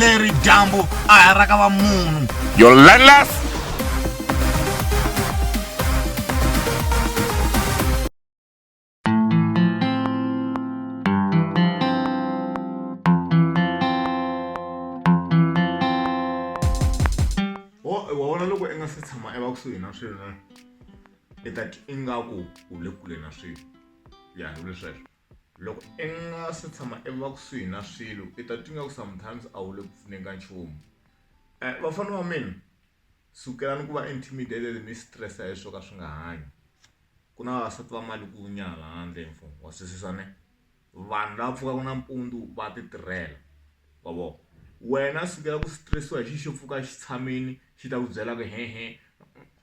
leri dyambu a ha ra ka va munhu your landless kusuhi na swilo na i ta ingaku u le kule na swilo ya hi lesweswo Loko i nga se tshama i va kusuhi na swilo i ta twi nga ku sometimes a wu le ku pfuneni ka nchumu eh, vafana va mina sukelani ku va intimidated mi stressa hi swo ka swi nga hanyi ku na vavasati va mali ku nyala handle mfumo wa swisisa ne vanhu lava pfukaka nampundzu va ti tirhela wa vona wena sukela ku stressiwa hi xi xo pfuka xi tshamini xi ta ku byela ku hehe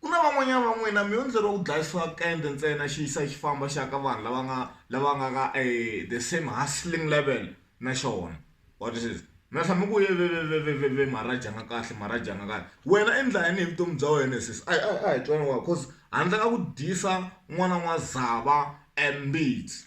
Ku na van'wanyana va n'wina mi yo endleriwa ku dlayisiwa kende ntsena xi yisa xi famba xa ka vanhu lava nga lava nga ka e the same hustling level na xona wa twisisa mi nga tlhela mi ku veveveveve Maharaj a nga kahle Maharaj a nga kahle wena i ndla yini hi vutomi bya wena he sesi a hi a hi a hi twana wa coz handle ka ku dyisa n'wana n'wazava e mbitsi.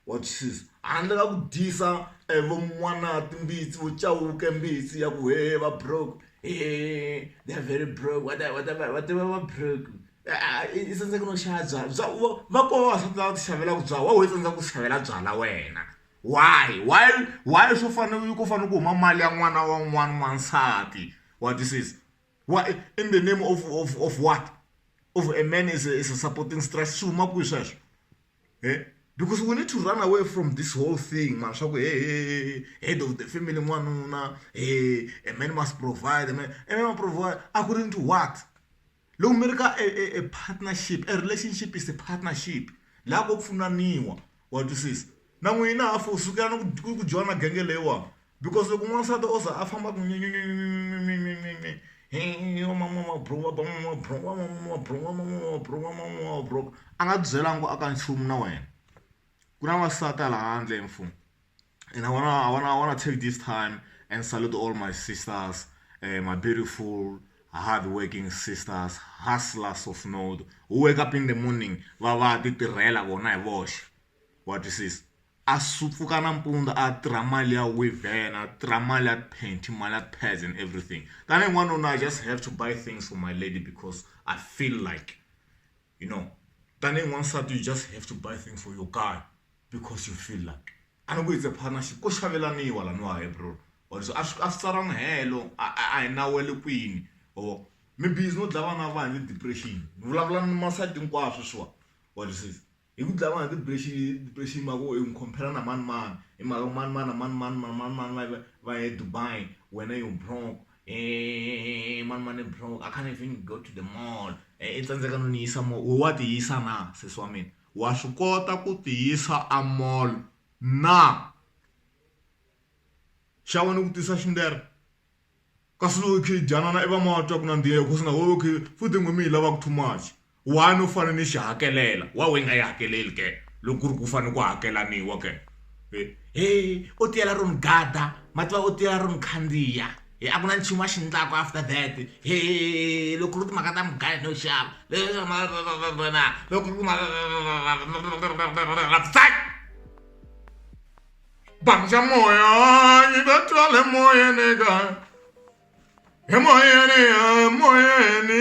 Wa twisisa? Handle ka ku dyisa e vo N'wanati Mbitsi vo Chauke Mbitsi ya ku hehe va broke hehe they are very broke va ta va ta va ta va va broke i tsandzeka no xava byalwa bya vo va koho vavasati lava ti xavelaka byalwa wa ho i tsandzeka ku ti xavela byalwa wena why why why swo fana na ku fanele ku huma mali ya n'wana wa un'wana n'wansati wa twisisa wa in the name of of of what of a man is a is a supporting stress swi huma kwihi sweswo. e because we need to run away from this whole thing mara swa ku hehe head of the family n'wanuna he a man must provide man a man provide according to what loko mi ri ka a partnership a relationship is a partnership laha ko pfunaniwa wa twisisa na n'wina hafo sukela ni ku ku joyina genge leyiwani because loko n'wansati o za a famba ku nyinyinyi hi yona mama wa mabulomu wa ba mama wa mabulomu wa mama wa mabulomu wa mama wa mabulomu wa mama wa mabulomu a nga byelanga ku a ka nchumu na wena ku na n'wansati hala handle mfumo and I wanna I wanna I wanna take this time and salute all my sisters uh, my beautiful hardworking sisters hustlers of note who wake up in the morning va va ti tirhela vona hi voxe wa twisisa a swi pfuka nampundzu a tirha mali ya wivheni a tirha mali ya panty mali ya pads and everything tanihi n'wanuna I just have to buy things for my lady because I feel like you know tanihi n'wansati you just have to buy things for your guy because you feel like a ni ku it's a partnership ko xavelaniwa laniwa he bro or so a swi a swi tsaranga helo a a hi nawu wa le kwini or mi busy no dlaya vana va hina hi depression ni vulavula ni masayiti hinkwaswo sweswiwa wa twisisa. Hi ku dlayiwa hi depression depression mhaka yo hi compare na mani mani hi mhaka ku mani mani na mani mani mani mani mani va va ye Dubai wena yo broke hehehe mani mani i broke I can't even go to the mall i tsandzeka no ni yisa mall wehe wa ti yisa na sesi wa mina wa swi kota ku ti yisa a mall na xa wena ku tisa xi ndlela. Kasi lokhi Janana i va ma twa ku nandziha hikusa na lokhi futhi n'wi mi hi lavaku too much. Why no fane ni xi hakelela? Why we nga yi hakeleli ke loko ku ri ku fane ku hakelaniwa ke? He o tiyela ro ni gada ma tiva o tiyela ro ni khandziya he a ku na nchumu a xi ndlaku after that he loko ku ri timhaka ta mugayo no xava loko ku ri timhaka . Banja moya, i bɛ to ale moya ne kan. E moya ne, e moya ne.